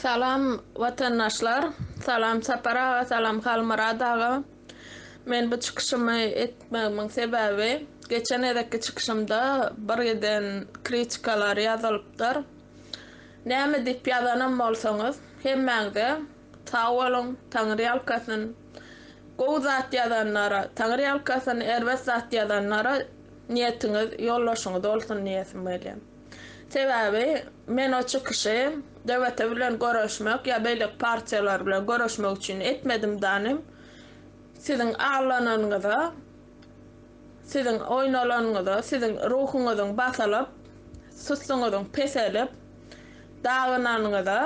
Salam watandaşlar salam Sapar aga salam Halmyrat aga men bu çykyşymy etmegimiň sebäbi geçen gezekki çykyşymda bir giden kritikalar ýazylypdyr näme diýip ýazanam bolsaňyz hemmäňize sag boluň taňyrýalkasyn gowy zat ýazanlara taňyrýalkasyn erbet zat ýazanlara niýetiňiz ýoldaşyňyz bolsun diýesim gelýär. Sebäbi men o çykyşy DVT bilen göreşmek ýa beýleki partiýalar bilen göreşmek üçin etmedim danym. Siziň aglananyňyza, siziň oýnalanyňyza, siziň ruhuňyzyň basylyp, sustuňyzyň peselip, dagynanyňyza,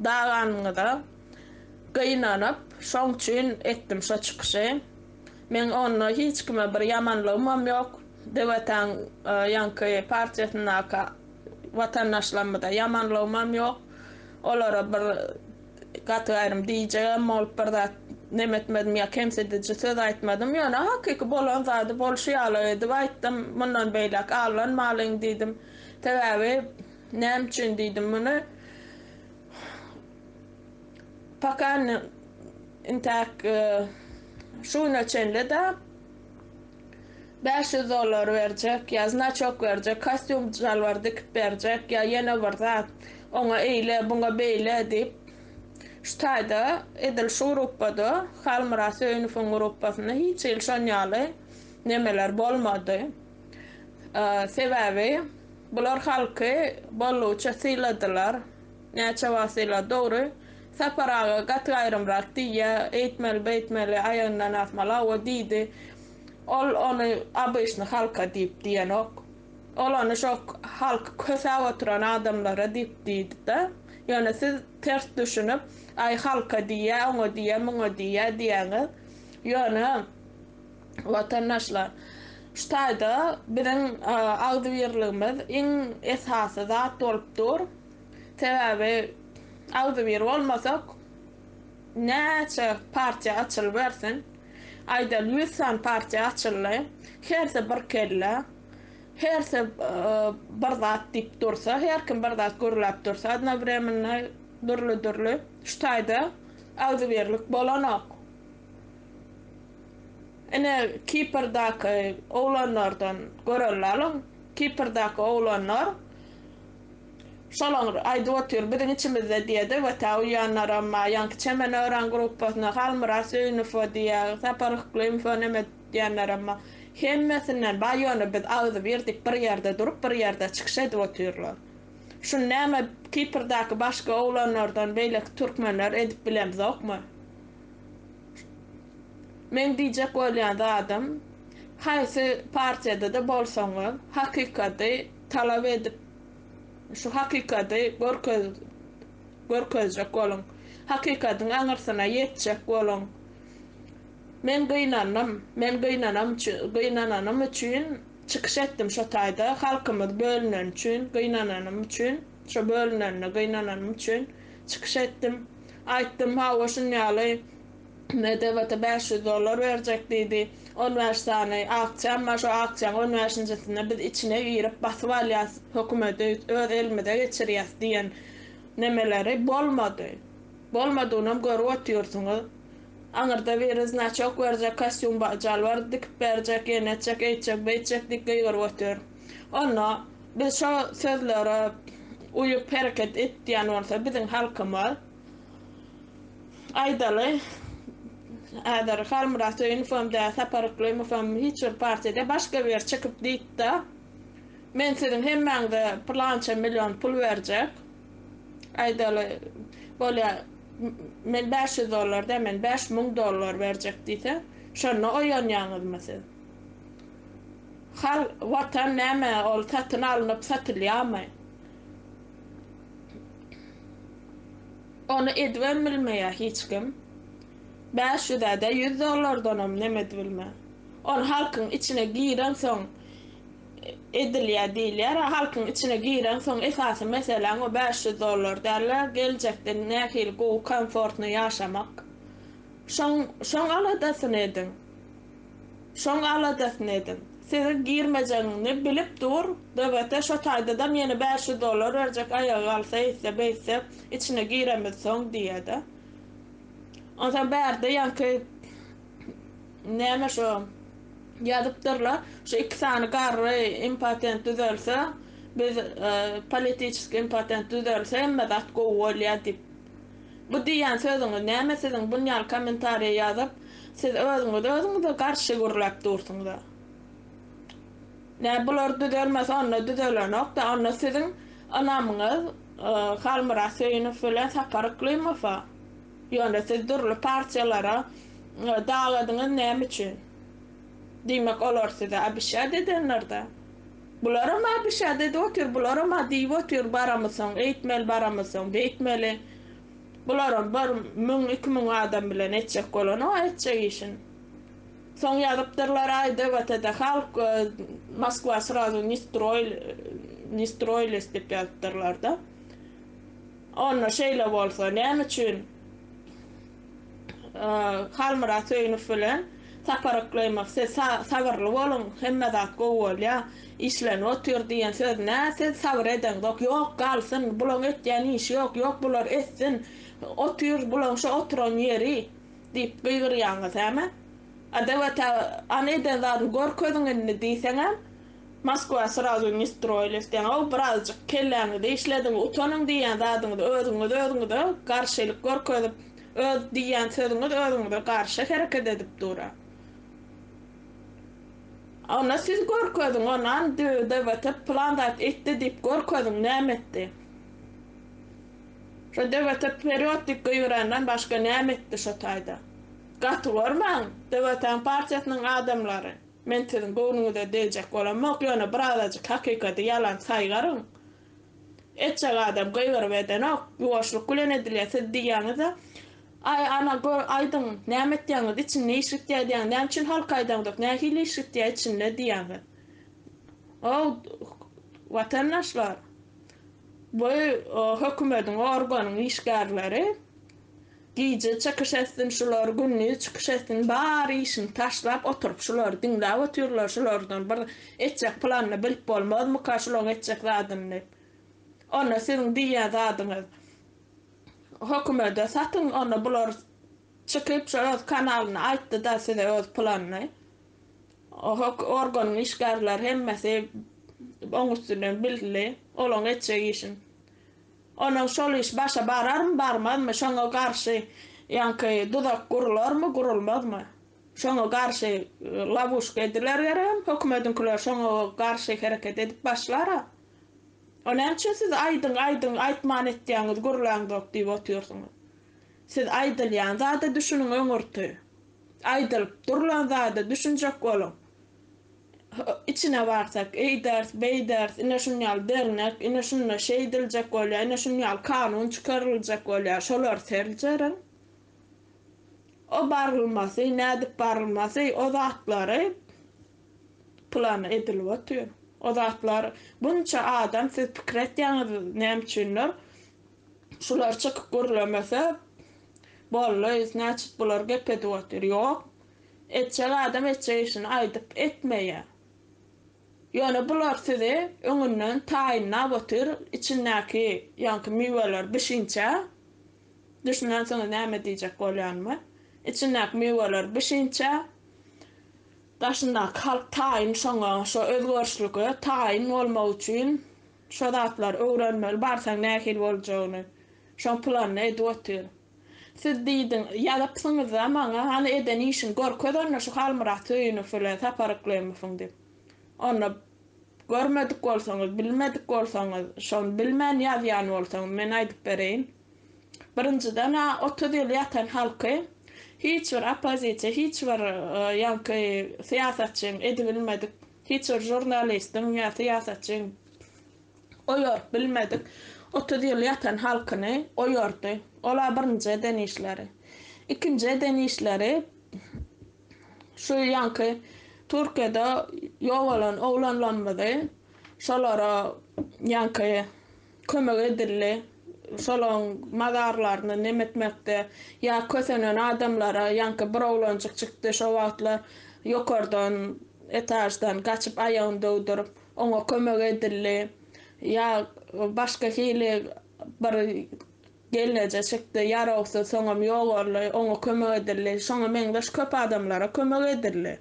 daganyňyza gynanyp, şoň üçin etdim şo çykyşy. Meň onda hiç kime bir ýamanlygymam ýok. Döwetäň ýaňky partiýasyndaky watandaşlarymyza ýamanlygymam ýok. Olara bir gaty gaýrym diýjegem bolup bir zat neme etmedim ýa kemsidiji söz aýtmadym. Ýöne hakyky bolan zady bolşy ýaly edip aýtdym. Mundan beýläk allanmalyň diýdim. Sebäbi näme üçin diýdim muny? Poka indi intäk şu güne çenli-de bäş ýüz dollar berjek, ýa znaçok berjek, kostýum, şalbar dikip berjek, ýa ýene bir zat, oňa eýle, buňa beýle diýip, şu taýda edil şu gruppada, Halmyrat Söýünowyň grupasynda hiç hili şon ýaly nemeler bolmady. Sebäbi bular halky boldugyça syladylar. Näçe wasyla dogry. Sapar aga gaty gaýrymrak diýýä, eýtmeli beýtmeli, aýagyndan asmaly hawa diýdi. Ol ony abyşny halka diýip diýenok. Ol ony şo halky kösäp oturan adamlara diýip diýdida. Ýöne siz ters düşünip, aý halka diýýä, oňa diýýä, muňa diýýä diýýäňiz. Ýöne watandaşlar şu taýda biziň agzybirligimiz iň esasy zat bolup dur. Sebäbi agzybir bolmasak, näçe partiýa açylybersin, aýdaly ýüz sany partiýa açyldy, hersi bir kelle, hersi bir zat diýip dursa, her kim bir zat gürläp dursa odnowremenno dürli-dürli, şu taýda agzybirlik bolanok. Ine, Kiprdaky oglanlardan göreliň, Kiprdaky oglanlar, Şolaňyr, aýdyp otyr, biziň içimizde diýedi we tä uýanlaram, maýaňky Çemen öran gruppasyna, Halmyrat Söýünowa diýä, Sapar Yklymova neme diýenlerem, hemmesinden baý ýöne biz agzybir diýip bir ýerde durup, bir ýerde çykyş edip otyrlar. Şuny näme Kiprdaky başga oglanlardan beýleki türkmenler edip bilemzokmy? Meň diýjek bolýan zadym, haýsy partiýada-da bolsaňyz, hakykaty talap edip şu hakykady görkezjek boluň. Hakykatyň aňyrsyna ýetjek boluň. Men gynandym. Men gynananym üçin çykyş etdim şo taýda. Halkymyz bölüneni üçin gynananym üçin, şo bölünenine gynananym üçin çykyş etdim. Aýtdym, hawa şunýaly. Nebata bäş ýüz dollar berjek diýdi. On bäş sany aksiýam bar, şo aksiýaň on bäşinjisinde biz içine girip basyp alýas, hökümeti öz elimize geçirýäs diýen nemeleri bolmady. Bolmadygynam görüp otyrsyňyz. Aňyrda biri znaçok berjek, kostýum jalbar dikip berjek, ýene etjek, eýtjek, beýtjek diýip gygyryp otyr. Onda biz şo sözlere uýup hereket et diýen bolsa biziň halkymyz. Aýdaly, häzir Halmyrat Söýünowow-da, Sapar Yklymowow-da hiç bir partiýada baş göbür çykyp diýipd-ä, Men siziň hemmäňize pylança million pul berjek. Aýdaly, bolýa, men bäş ýüz dollar däl, men bäş müň dollar berjek diýse, şonda oýanýaňyzmy siz? Halk, Watan näme, ol satyn alnyp satylýarmy? Ony edibem bilmeýär hiç kim. Bäş ýüzä-de ýüz dollardanam nem edibilmä. Ony halkyň içine gireňsoň edilýär diýilýär-ä, halkyň içine gireňsoň esasy meseläň o bäş ýüz dollar däl-de, geljekde nähili gowy, komfortny ýaşamak. Şoň, şoň aladasyny ediň. Şoň aladasyny ediň. Sizi girmejegiňi bilip dur, BBT şo taýdadam ýene bäş ýüz dollar berjek aýaga galsa eýtse beýtse içine giremiz soň diýede. Onsoň bärde ýaňky näme şo ýazypdyrlar şu iki sany garry impatent düzelse biz politiçeski impatent düzelse hemme zat gowy bolýa diýip. Bu diýýän sözüňiz näme siziň bunýal kommentariýa ýazyp siz özüňiz özüňize garşy gürläp dursuňyza. Nä bular düzelmese onda düzelenokda onda siziň ynamyňyz Halmyrat Söýünow bilen Sapar Yklymowa. Ýöne siz dürli partiýalara daladyňyz näme üçin. Diýmek, olar size abişýad edenler-dä? Bularam abişýad edip otyr, bularam-a diýip otyr, baramysoň, eýtmeli, baramysoň, beýtmeli. Bularam bir müň, iki müň adam bilen etjek bolany-ow etjek işin. Soň ýazypdyrlar, aý, DVT-de halk, Moskwa srazu ne stroýles diýip ýazypdyrlar-da. Onda şeýle bolsa, näme üçin? Halmyrat Söýünow bilen Sapar Yklymow siz sabyrly boluň, hemme zat gowy bolýa, işlenip otyr diýen söz nä siz sabyr edeňzok, ýok galsyn, bulaň etýän işi ýok, ýok bular etsin, otyr bulaň şo oturan ýeri diýip gygyrýaňyz hä men. Adawete an eden zadyny gör közüň indi diýseňem Moskwa srazu ne stroýiliz deňow birazjyk kelläňizi işlediň utanyň diýýän zadyňyzy özüňiz özüňize garşylyk görkezip öz diýýän sözüňiz özüňize garşy hereket edip dura ona siz görkeziň onan dwdt plan zat etdi diýip görkeziň näme etdi şo dwdt wperiod diýip gygyrandan başga näme etdi şo taýda gaty görmäň dwtň partiýasynyň adamlary. Men siziň göwnüňize degjek bolamok, ýöne bir azajyk hakykady ýalan saýgaryň. Etjek adam gygyryp edenok, ýuwaşlyk bilen edilýär, siz diýýäňiz-ä, Aý, ana, gör, aýdyň, näme etýäňiz, içinde iş gitýär diýýäňiz, näme üçin halka aýdaňzok, nähili iş gitýär içinde diýýäňiz. Ow, watandaşlar, bu hökümediň, organyň işgärleri. Gije çykyş etsin şular gündiz çykyş etsin bar işini taşlap oturyp şulary diňläp otyrlar şulardan bir etjek planyny bilip bolmazmyka şulaň etjek zadyny diýip onda siziň diýýän zadyňyz hokumede satyň onda bular çykyp şo öz kanalyna aýtdyda size öz planyny hok organyň işgärleri hemmesi oň üstünden bildi olaň etjek işini. Onsoň şol iş başa bararmy, barmazmy, şoňa garşy ýaňky duzak gurularmy, gurulmazmy, şoňa garşy lawuşka ediler geregem, hökümediňkiler şoňa garşy hereket edip başlar-a. O näme üçin siz aýdyň, aýdyň, aýtman etýäňiz, gürläňzok diýip otyrsyňyz? Siz aýdylýan zada düşüniň öňürti. Aýdylyp durlan zada düşünjek boluň. içine barsak, eýderis, beýderis, ine şun ýaly dernek, ine şunda şeýdiljek bolýar, ine şun ýaly kanun çykaryljak bolýar, şolary seljeriň. O barylmasy, nädip barylmasy, o zatlary plan edilip otyr. O zatlar bunça adam siz pikir etýäňiz näme üçindir? Şular çykyp gürlemese, boldy, znaçit bular gep edip otyr. Ýok. Etjek adam etjek işini aýdyp etmeýä. Ýöne bular sizi öňünden taýynlap otyr içindäki ýaňky miweler bişinçä düşünensiňiz näme diýjek bolýanymy içindäki miweler bişinçä daşyndaky halk taýyn şoňa şo özgerişlige taýyn bolmak üçin şo zatlary öwrenmeli barsaň nähili boljagyny şoň planyny edip otyr. Siz diýdiň, ýazypsyňyz-a maňa, hany eden işiňi görkez onda şu Halmyrat Söýünow bilen Sapar Yklymowyň diýip. Onda görmedik bolsaňyz, bilmedik bolsaňyz, şony bilmän ýazýan bolsaňyz, men aýdyp bereýin. Birinjiden-ä otuz ýyl ýatan halky hiç bir oppozisiýa, hiç bir ýaňky syýasatçyň edibilmedik, hiç bir žurnalistiň ýa syýasatçyň oýaryp bilmedik, otuz ýyl ýatan halkyny oýardy. Ol-a birinji eden işleri. Ikinji eden işleri, şu ýaňky Türkiýede ýogalan oglanlarymyzy şolara ýaňky kömek edildi, şolaryň mazarlaryny nem etmekde ýa kösenen adamlara, ýaňky bir oglanjyk çykdy şo wagtlar ýokardan, etaždan gaçyp aýagyny döwdürip, Oňa kömek edildi. Ýa başga hili bir gelneje çykdy, ýarawsyz, soňam ýogaldy, oňa kömek edildi. Şoňa meňzeş köp adamlara kömek edildi.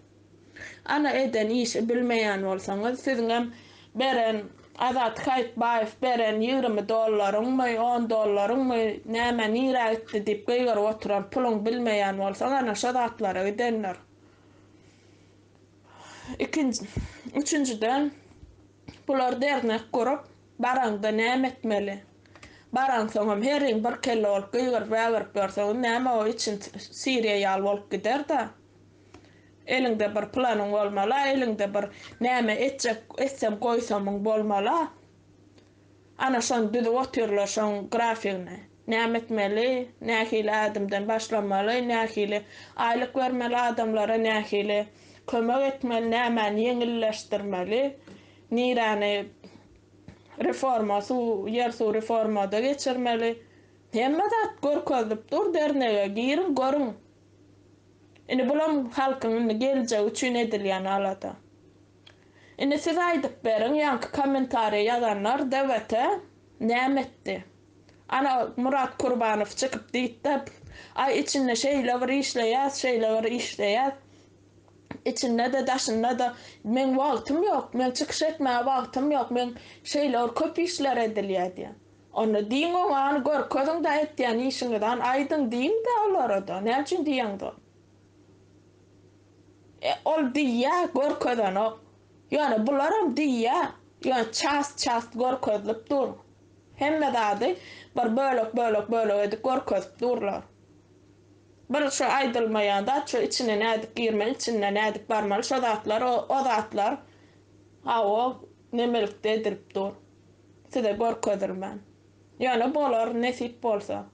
Ana eden işi bilmeýän bolsaňyz, siziňem beren Azat Haýytbaýew beren ýigrimi dollaryňmy, on dollaryňmy, nämä, nirä gitdi diýip gygyryp oturan puluň bilmeýän bolsaň, ana şo zatlara gidendir. Ikinji, üçünjiden, bular dernek gurup, baraňda näme etmeli? Baraňsoňam, heriň bir kelle bolup gygyryp-wägirip ýörseňiz, näme o içiň siriýa ýaly bolup gider-dä. Eliňde bir planyň bolmaly-a, eliňde bir näme etjek, etsem-goýsamyň bolmaly-a. Ana şony düzüp otyrlar şoň grafigini. Näme etmeli, nähili ädimden başlamaly, nähili aýlyk bermeli adamlara, nähili kömek etmeli, nämäni ýeňilleşdirmeli, niräni reforma suw, ýer suw reformada geçirmeli. Hemme zat görkezilip dur dernege giriň görüň. Indi bulam halkyň indi geljegi üçin edilýän alada. Indi siz aýdyp beriň ýaňky kommentariýa ýazanlar DWT näme etdi? Ana Murat Kurbanow çykyp diýipdi aý içinde şeýle bir işleýäs şeýle bir işleýäs içinde-de daşynda-da meň wagtym ýok meň çykyş etmäge wagtym ýok meň şeýle bir köp işler edilýär diýä onda diýiň oňa görkeziň-de etýän işiňizan aýdyň diýiň-de olara-da näme üçin diýeňzok. E, ol diýýä, görkezenok. Ýöne bularam diýýä, ýöne çast-çast görkezilip dur. Hemme zady bir bölek-bölek-bölek edip görkezip durlar. Bir şu aýdylmaýan zat, şu içine nädip girmeli, içinden nädip barmaly, şo zatlar, o zatlar hawa, nemelikde edilip dur. Size görkezilmän. Ýöne bolar, nesip bolsa.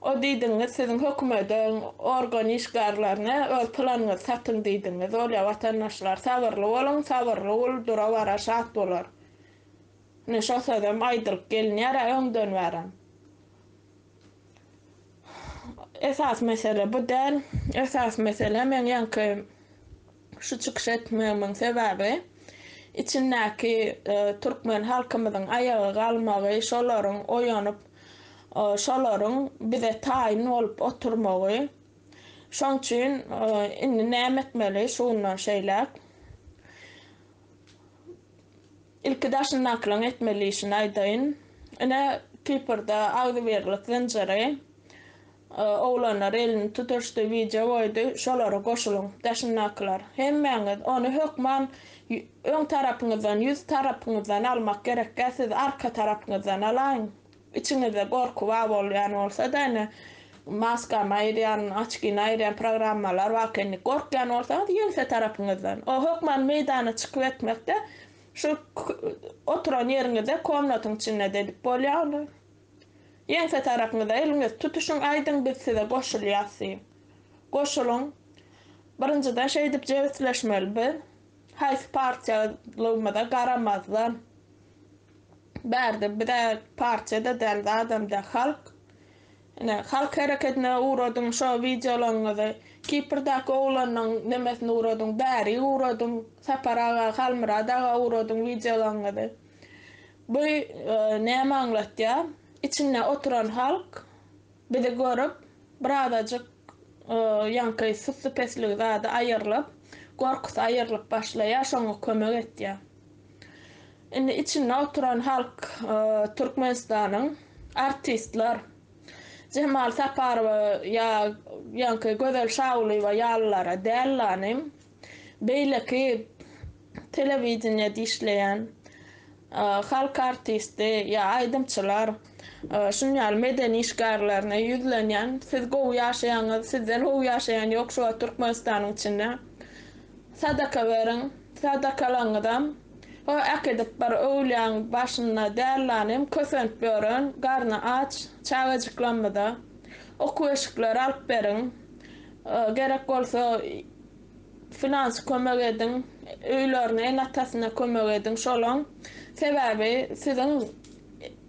O diýdigiňiz siziň hökümediň organ işgarlaryna öz planyňyzy satyň diýdigiňiz bolýa watandaşlar sabyrly boluň sabyrly gul dura bara şat bolar ine şo sözem aýdylyp gelinýärä öňden bärem esas mesele bu däl esas mesele meň ýaňky Şu çykyş etmegimiň sebäbi, içindäki türkmen halkymyzyň aýaga galmagy, şolaryň oýanyp, şolaryň bize taýyn bolup oturmagy. Şoň üçin indi näme etmeli şu gündan şeýläk? Ilki daşyndakylaryň etmeli işini aýdaýyn. Ine, Kiprde agzybirlik zynjyry Oglanlar elini tutuşdy, wideo goýdy, şolara goşulyň, daşyndakylar. Hemmäňiz ony hökman öň tarapyňyzdan, ýüz tarapyňyzdan almak gerekkä, siz arka tarapyňyzdan alaýyň. Içiňizde gorky bar bolýan bolsa-da, ine, maskany aýyrýan, oçkini aýyrýan programmalar bar eken, indi gorkýan bolsaňyz, ýeňse tarapyňyzdan. O hökman meýdana çykyp etmekde, şu oturan ýeriňizde, komnatyň içinde-de edip bolýar ony. Ýeňse tarapyňyza eliňizi tutuşyň aýdyň biz size goşulýas diýiň. Goşulyň. Birinjiden şeýdip jebisleşmeli biz haýsy partiýalygymyza garamazdan. Bärde biz-ä partiýa-da däl zadam-da halk. Ine halk hereketine ugradyň şo wideolaryňyzy Kiprdaky oglanyň nemesine ugradyň bäri ugradyň Sapar aga Halmyrat aga ugradyň wideolaryňyzy. Bu näme aňlatýar? Içinde oturan halk bizi görüp, birazajyk ýaňky sussupestligi zady aýyrlyp, gorkusy aýyrlyp başlaýar, şoňa kömek etýär. Indi içinde oturan halk Türkmenistanyň artistler, Jemal Saparowa ýa ýaňky Gözel Şagulyýewa ýalylara däl-la, nim. Beýleki telewideniýede işleýän halk artisti ýa aýdymçylar şuny ýaly medeni işgärlerine ýüzlenýän siz gowy ýaşaýaňyz sizden gowy ýaşaýan ýok şu wagt Türkmenistanyň içinde sadaka beriň sadakalaňyzam ho äkidip bir öwlýäň başynda dällanym kösenip ýören garny aç çagajyklamyza okuw eşikleri alyp beriň gerek bolsa Filançy kömek ediň, öýlerine el atasyna kömek ediň şolaň sebäbi siziň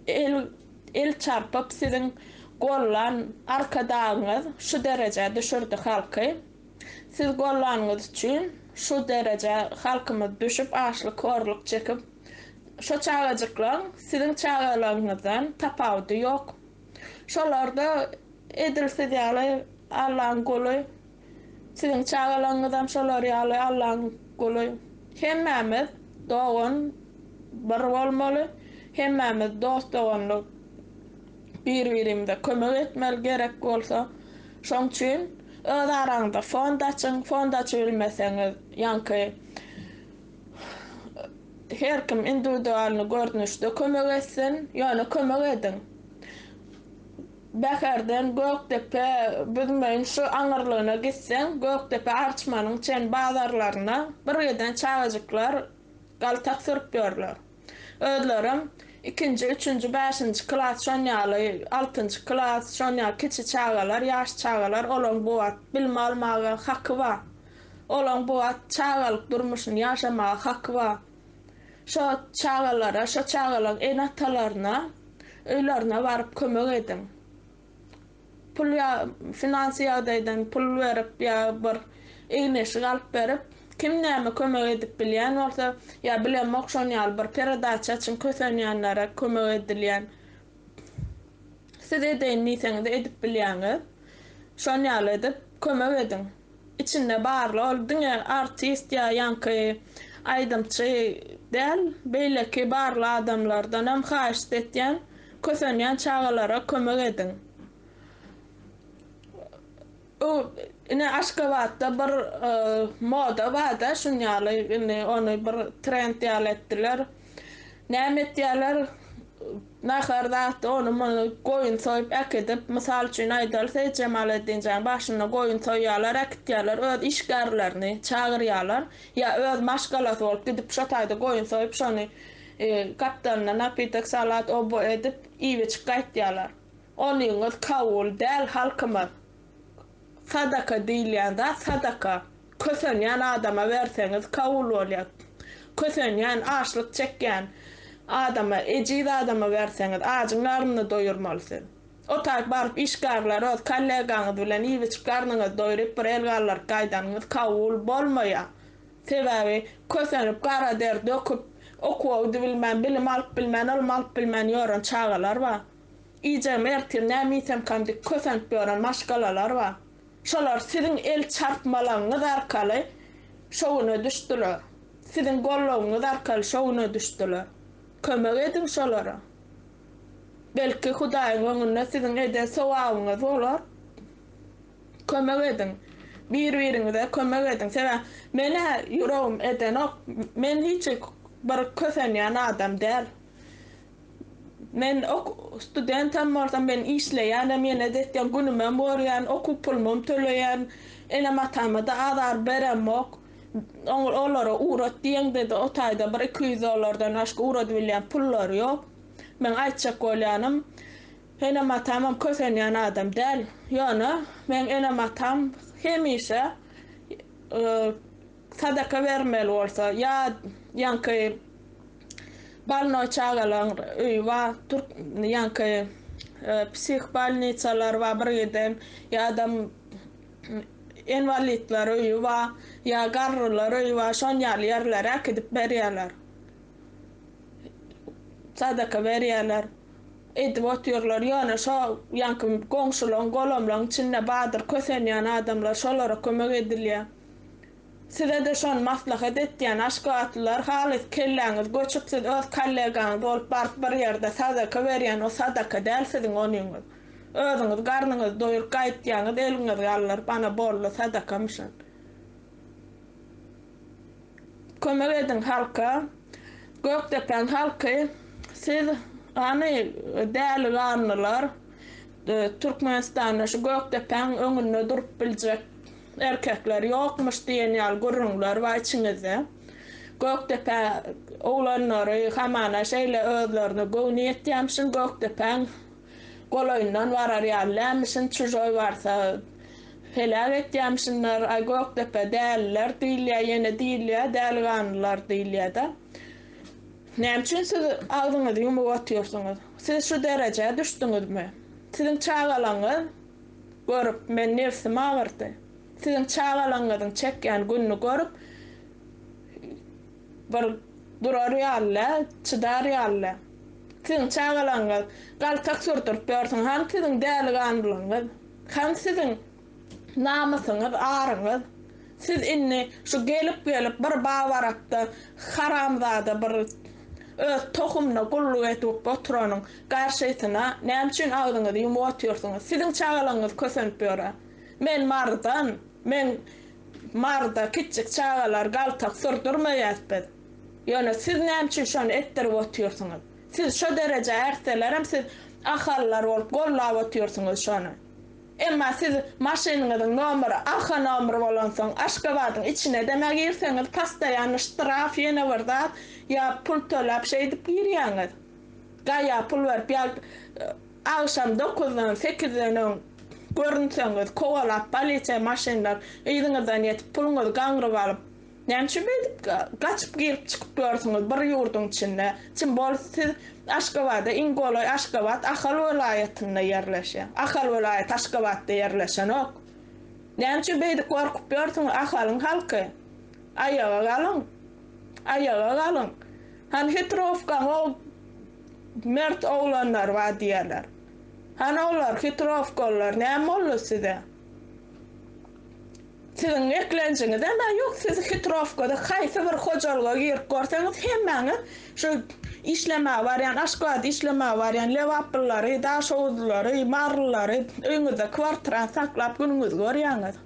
el el çarpyp siziň gollan arkadagyňyz şu derejä düşürdi halky siz gollanyňyz üçin şu derejä halkymyz düşüp açlyk horluk çekip şo çagajyklaň siziň çagalaryňyzdan tapawudy ýok şolarda edil siz ýaly Allaň guly Siziň çagalaryňyzam şolar ýaly Allaň guly. Hemmämiz dogan bir bolmaly, hemmämiz dost doganlyk bir birimize kömek etmeli gerek bolsa. Şoň üçin öz araňyzda fond açyň, fond açybilmeseňiz ýaňky her kim indiwidualny görnüşde kömek etsin, ýöne kömek ediň. Bäherden Gökdepe, Büzmeýin şu aňyrlygyna gitseň, Gökdepe Arçmanyň çen bazarlaryna birgiden çagajyklar galtak sürüp ýörler. Özlerem ikinji, üçünji, bäşinji klas şon ýaly, altynjy klas şon ýaly kiçi çagalar, ýaş çagalar, olaň bu wagt bilim almaga haky bar. Olaň bu wagt çagalyk durmuşyny ýaşamaga haky bar. Şo çagalara, şo çagalaň ene-atalaryna öýlerine baryp kömek ediň. Pul ýa finansy ýagdaýdan pul berip ýa bir egin-eşik alyp berip, kim näme kömek edip bilýän bolsa, ýa bilemok şon ýaly bir peredaça üçin kösenýänlere kömek edilýän. Siz edeýin diýseňiz edip bilýäňiz. Şon ýaly edip kömek ediň. Içinde barly ol diňe artist ýa ýaňky aýdymçy däl beýleki barly adamlardan hem haýşt etýän kösenýän çagalara kömek ediň bu ine aşgabatda bir moda barda şunýaly indi ony bir trend ýaly etdiler. Näme etýärler? Nahar zat, ony muny goýun soýup äkidip, mysal üçin aýdaly Seýit Jemaleddinjanyň başyna goýun soýýarlar, äkitýärler, öz işgärlerini çagyrýarlar, ýa öz maşgalasy bolup gidip şo taýda goýun soýup, şony gapdalyna napitek, salat, oba edip iýip-içip gaýtýarlar. Onyňyz kabul däl halkymyz. Sadaka diýilýän zat sadaka. Kösenýän adama berseňiz kabul bolýar. Kösenýän, açlyk çekýän adama, ejiz adama berseňiz, ajyň garnyny doýurmaly siz. O taýyp baryp işgärler öz kollegaňyz bilen iýip-içip garnyňyzy doýuryp bir el galdyryp gaýdanyňyz kabul bolmaýar. Sebäbi kösenip gara der döküp okuwdy bilmän, bilim alyp bilmän, ylym alyp bilmän ýören çagalar bar. Gijäm ertir näme iýsemkam diýip kösenip ýören maşgalalar bar. Şolar siziň el çarpmalaryňyz arkaly şo güne düşdüler. Siziň goldawyňyz arkaly şo güne düşdüler. Kömek ediň şolara. Belki Hudaýyň öňünde siziň eden sogabyňyz bolar. Kömek ediň. Bir-biriňize kömek ediň. Sebäbi men-ä ýüregim edenok. Men hiç bir kösenýän adam däl. Men ok studentam bolsam men işleýänem ýene zehden günümem görýän okuw pulumam töleýän enem atamada azar beremok oňa olara ugrat diýeňdede otaýda bir iki ýüz dollardan başga ugradybilýän pullary ýok men aýtjak bolýanym enem atamam kösenýän adam däl ýöne meň enem atam hemişe Sadaka bermeli bolsa ýa ýaňky balnoý çagalaň öýi ba türk ýaňky psih balnisalar ba bir giden ýadam enwalidler öýi ba ýa garrylar öýi ba şon ýaly ýerlere äkidip berýärler sadaka berýärler edip otyrlar ýone şo ýaňky goňşulaň golamlaň içinde badyr kösenýän adamlar şolara kömek edilýär. Sizede şony maslahat etýän aşgabatlylar halys kelläňiz göçük siz öz kollegaňyz bolup baryp bir ýerde sadaka berýän o sadaka däl siziň onyňyz özüňiz garnyňyzy doýuryp gaýytýaňyz eliňiz galdyryp ana boldy sadakamyşyn kömek ediň halka gökdepäň halky siz hany däli ganlylar türkmenistanda şu gökdepäň öňünde durup biljek Erkekler ýokmuş diýen ýaly gürrüňler bar içiňizde. Gökdepä oglanlary hamana şeýle özlerine göwni ýetýämişin, Gökdepäň golaýyndan barar ýaly dälmişin, çužoý barsa heläk etýämişinler. Aý, Gökdepe däliler diýilýär, ýene diýilýär, däliganlylar diýilýär-de. Näme üçin siz agzyňyzy ýumup otyrsyňyz? Siz şu derejä düşdüňizmi? Siziň çagalaryňyz görüp, men nebsim agyrdy. Siziň çagalaryňyzyň çekýän gününi görüp, bir durar ýaly-le, çydar ýaly-le. Siziň çagalaryňyz galtak sürdürip ýörsün, hany siziň däliganlygyňyz, hany siziň namysyňyz, aryňyz? Siz indi şu gelip gelip bir babarakda haramzada bir öz tohumyna gulluk edip oturanyň garşysyna näme üçin agzyňyzy ýumup otyrsyňyz siziň çagalaryňyz kösenip ýöre men mardan men marda kiçjik çagalar galtak sürdürmeýäs biz ýöne siz näme üçin şony etdirip otyrsyňyz siz şo derejä ärtselerem siz ahallar bolup gollap otyrsyňyz şony. Emma siz maşynyňyzyň nomeri arka nomer bolansoň Aşgabadyň içine demä girseňiz pastaýanny ştraf ýene bir zat ýa pul töläp şeýdip girýäňiz. Gaýa pul berip ýa agşam dokuzdan sekizden öň görünseňiz kowalap polisiýa maşynlar yzyňyzdan ýetip puluňyzy gaňryp alyp Näme üçin beýdip gaçyp girip çykyp ýörsiňiz bir ýurdyň içinde? Çyn bolup siz Aşgabada iň golaý Aşgabat Ahal welaýatynda ýerleşýär. Ahal welaýaty Aşgabatda ýerleşenok. Näme üçin beýdip gorkup ýörsiňiz Ahalyň halky? Aýaga galyň. Aýaga galyň. Hany hitrowkaň o mert oglanlar bar diýerler. Hany olar hitrowkalylar näme boldy size? Siziň eklenjiňizem a ýok siz hitrowkada haýsy bir hojalyga girip gorseňiz hemmäňiz şu işlemäge barýan aşgabada işlemäge barýan lebaplyllary daşoguzlylary marylylary öýüňizde kwartirany saklap günüňizi görýäňiz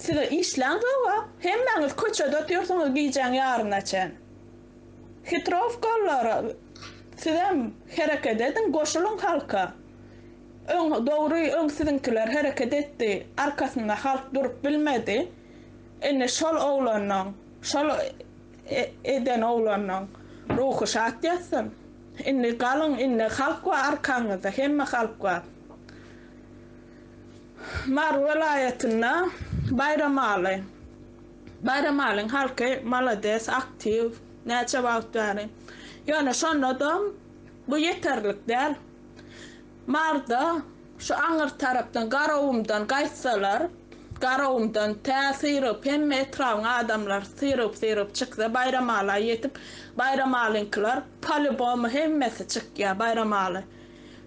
size işlän zoga hemmäňiz köçede otyrsyňyz gijäň ýaryna çen hitrowkalylar sizem hereket ediň goşulyň halka. Öň dogry öň siziňkiler hereket etdi arkasynda halk durup bilmedi indi şol oglanyň şol eden oglanyň ruhy şat ýatsyn indi galyň indi halk bar arkaňyzda hemme halk bar Mary welaýatynda Baýramaly Baýramalyň halky malades aktiw näçe wagt bäri ýöne şonadam bu ýeterlik däl. Marda şu aňyr tarapdan Garagumdan gaýtsalar, Garagumdan tä syrygyp, hemme etrabyň adamlary syrygyp-syrygyp çyksa, Baýramaly-a ýetip, Baýramalyňkylar polýubomy hemmesi çykýar, Baýramaly.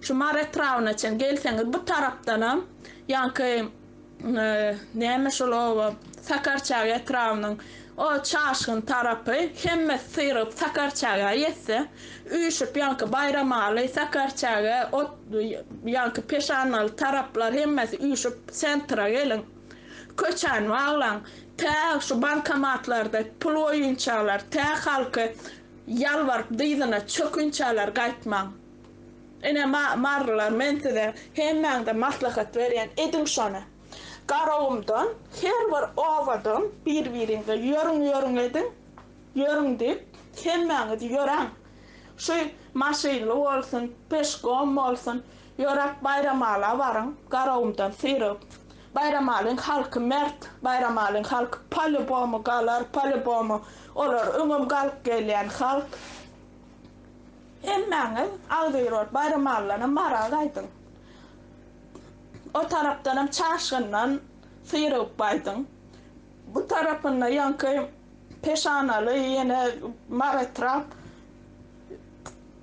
Şu Mary etrabyna çen gelseňiz, bu tarapdanam ýaňky Näme şol oba? Sakarçag etrabynyň o çaşgyn tarapy. Hemme syrygyp Sakarçaga ýetse, üýşüp ýaňky Baýramaly, Sakarçag, ot, ýaňky Peşandaly taraplar hemmesi üýşüp sentra geliň. Köçäni baglaň. Tä şu bankomatlarda pul goýunçalar, tä halky ýalbaryp dyzyna çökünçalar gaýtmaň. Ine, marylar, men size hemmäňize maslahat berýän, ediň şony. Garagumdan her bir obadan bir-biriňize ýörüň, ýörüň ediň, ýörüň diýip, hemmäňiz ýöräň. Şu Maşynly bolsun, Peşkom bolsun, ýöräp Baýramala baryň, Garagumdan syrygyp. Baýramalyň halky mert, Baýramalyň halky polýubomu galar, polýubomu, olar öňem galyp gelýän halk. Hemmäňiz agzybirok baýram allana maraz aýdyň. O tarapdanam çaşgyndan syrygyp gaýdyň. Bu tarapynda ýaňky peşanaly ýene mar etrap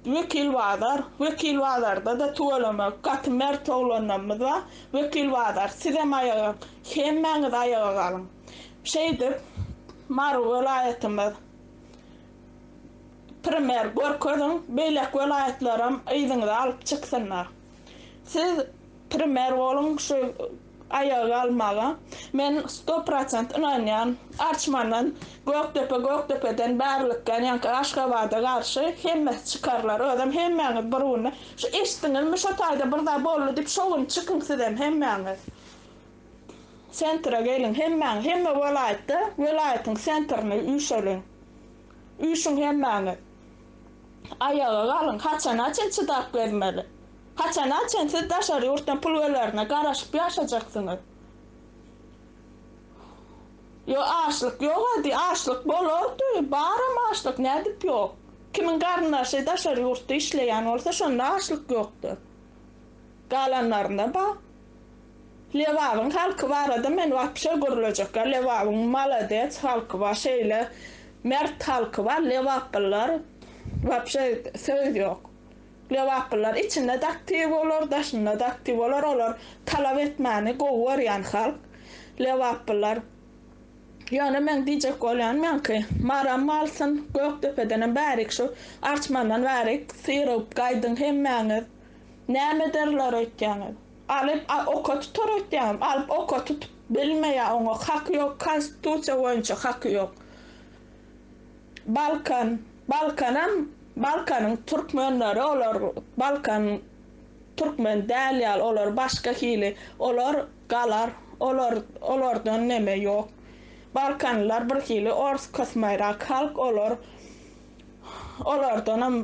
Wekil bazar. Wekil bazarda-da tüwelemek gaty mert oglanlarymyz bar. Wekil bazar sizem aýaga hemmäňiz aýaga galyň. Şeýdip Mary welaýatymyz primer görkeziň beýleki welaýatlaram yzyňyzy alyp çyksynlar siz primer boluň şu aýaga galmaga men sto prosent ynanýan arçmandan gökdepe gökdepeden bärlik ýanýanka aşgabada garşy hemmesi çykarlar özem hemmäňiz bir günde şu eşdiňizmi şo taýda bir zat boldy diýip şo gün çykyň sizem hemmäňiz Sentra geliň hemmäňiz, hemme welaýatda welaýatyň sentryny üýşeliň. Üýşüň hemmäňiz. Aýaga galyň, haçana çen çydap gezmeli? Haçana çen siz daşary ýurtdan pul gelerine garaşyp ýaşajaksyňyz? Ýo açlyk ýok ady, açlyk bolardy, baram açlyk, nädip ýok? Kimiň garyndaşy daşary ýurtda işleýän bolsa şonda açlyk ýokdur. Galanlarynada Lebabyň halky barada men wapşe gürlejek ýok Lebabyň malades halky bar şeýle mert halky bar Lebaplylar wapşe söz ýok Lebaplylar içindede aktiw bolar daşynada aktiw bolar olar talap etmäni gowy görýän halk Lebaplylar ýöne meň diýjek bolýan meňki Maram malsyn Gökdepedenem bärik şu arçmandan bärik syrygyp gaýdyň hemmäňiz. Näme derler öýtýäňiz. Alyp oka tutar öýtýäňiz. Alyp oka tutup bilmeýär oňa haky ýok konstitusiýa boýunça haky ýok. Balkan Balkanam Balkanyň türkmenleri olar Balkan türkmen däl ýaly olar başga hili olar galar olar olardan neme ýok Balkanlylar bir hili ors kosmaýrak halk olar olardanam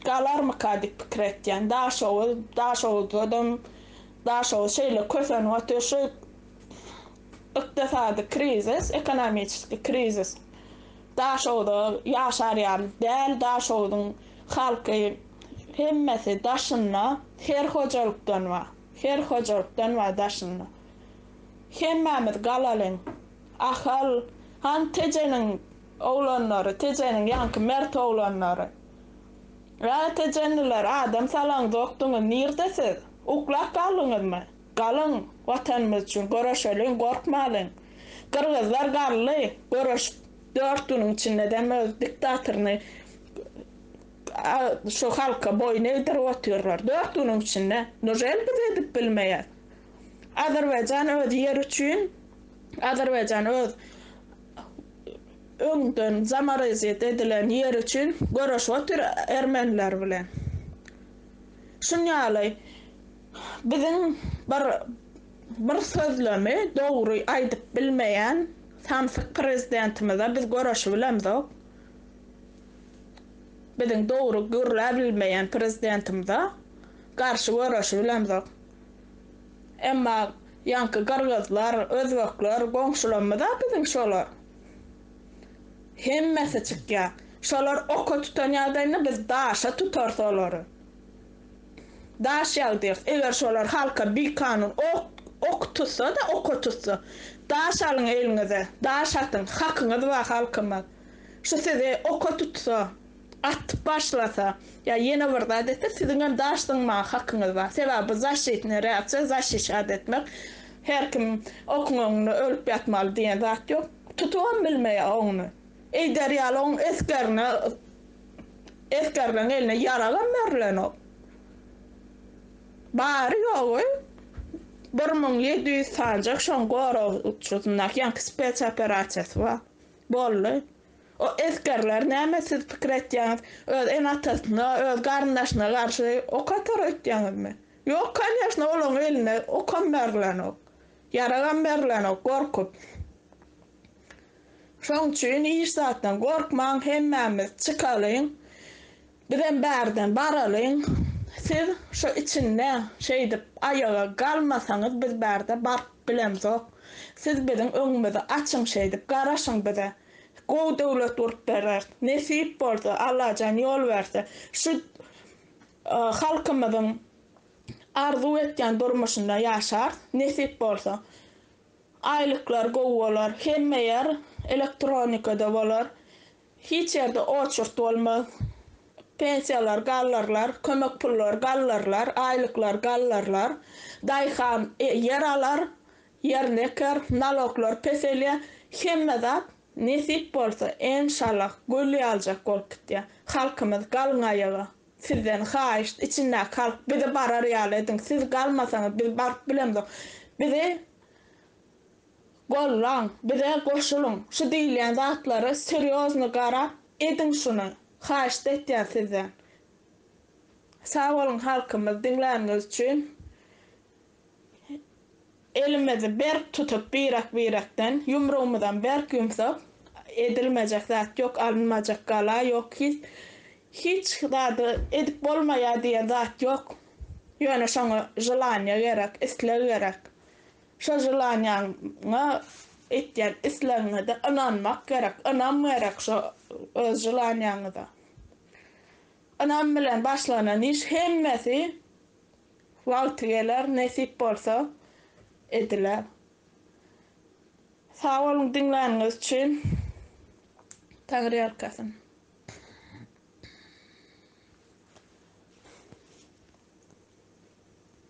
galarmyka diýip pikir etýän. Daşoguz, Daşoguzladam, Daşoguz şeýle kösenip otyr, şu ykdysady krizis, ekonomiçeskiý krizis Daşoguza ýaşar ýaly däl, Daşoguzyň halky hemmesi daşynda, her hojalykdan bar, her hojalykdan bar daşynda. Hemmämiz galalyň, Ahal, hany Tejeniň Oglanlary, Tejeniň ýaňky mert oglanlary. Ä, tejenliler, adam salaňzokdyňyz, nirde siz? Uklap galdyňyzmy? Galyň, Watanymyz üçin göreşeliň, gorkmalyň. Gyrgyzlar galdy, göreşip, dört günüň içinde-dem öz diktatoryny şu halka boýun egdirip otyrlar. Dört günüň içinde. Nujeli biz edip bilmeýäs? Azerbaýjan öz ýeri üçin, Azerbaýjan öz öňden zamorazit edilen ýeri üçin göreş otyr ermeniler bilen. Şun ýaly biziň bir bir sözlemi dogry aýdyp bilmeýän samsyk prezidentimize biz göreşibilemzok. Biziň dogry gürläbilmeýän prezidentimize garşy göreşibilemzok. Emma ýaňky gyrgyzlar, özbekler goňşularymyz-a biziň şolar. Hemmesi çykýar. Şolar oka tutan ýagdaýynda biz daşa tutarys olary. Daş ýagdyrys. Eger şolar halka bikanun ok tutsa-da, oka tutsa. Daş alyň eliňize, daş atyň. Hakyňyz bar halkymyz. Şu sizi oka tutsa. Atyp başlasa ýa ýene bir zat etse siziňem daş zyňmaga hakyňyz bar. Sebäbi bu zaşitnyý reaksiýa, zaşişat etmek. Her kim okuň öňünde ölüp ýatmaly diýen zat ýok. Tutubam bilmeýär oňuny. Eýder ýaly oň esgerine esgerleň eline ýaragam berlenok. Bary ýogy bir müň ýedi ýüz sanjak şoň goragçysyndaky ýaňky spes operasiýasy bar. Boldy. O esgerler näme siz pikir etýäňiz öz ene atasyna öz garyndaşyna garşy ok atar öýtýäňizmi ýok kanyýaşna olaň eline okam berlenok ýaragam berlenok gorkup şoň üçin hiç zatdan gorkmaň hemmämiz çykalyň Bizem bärden baralyň, siz şo içinde şeýdip aýaga galmasaňyz biz bärde baryp bilemzok, siz biziň öňümizi açyň şeýdip garaşyň bize, gowy döwlet gurup bereris, nesip bolsa, Allajan ýol berse, şu halkymyzyň arzuw etýän durmuşynda ýaşars, nesip bolsa, aýlyklar gowy bolar, hemme ýer elektronikada bolar, Hiç ýerde oçurt bolmaz. Pensiýalar galdyrlar, kömek pullary galdyrlar, aýlyklar galdyrlar. Daýhan ýer alar, ýerini eker, naloglar peselýär. Hemme zat, nesip bolsa, enşallah, gül ýaljak bolup gitýär. Halkymyz, galyň aýaga! Sizden haýyşt, içindäki halk, bizi barar ýaly ediň! Siz galmasaňyz, biz baryp bilemzok. Bizi Gollaň, bize goşulyň, şu diýilýän zatlara serýozny garap ediň şuny, haýyşt etýän sizden. Sag boluň halkymyz diňläniňiz üçin. Elimizi berk tutup birek birekden, ýumrugymyzam berk ýumsak, edilmejek zat ýok, alynmajak gala ýok, hiç hiç zady edip bolmaýar diýen zat ýok. Ýöne şoňa želaniýa gerek, isleg gerek. Şol želaniýaňa etýän islegiňede ynanmak gerek, ynam gerek şo öz želaniýaňyza. Ynam bilen başlanan iş hemmesi wagty geler, nesip bolsa ediler. Sag boluň diňläniňiz üçin. Taňryýalkasyn.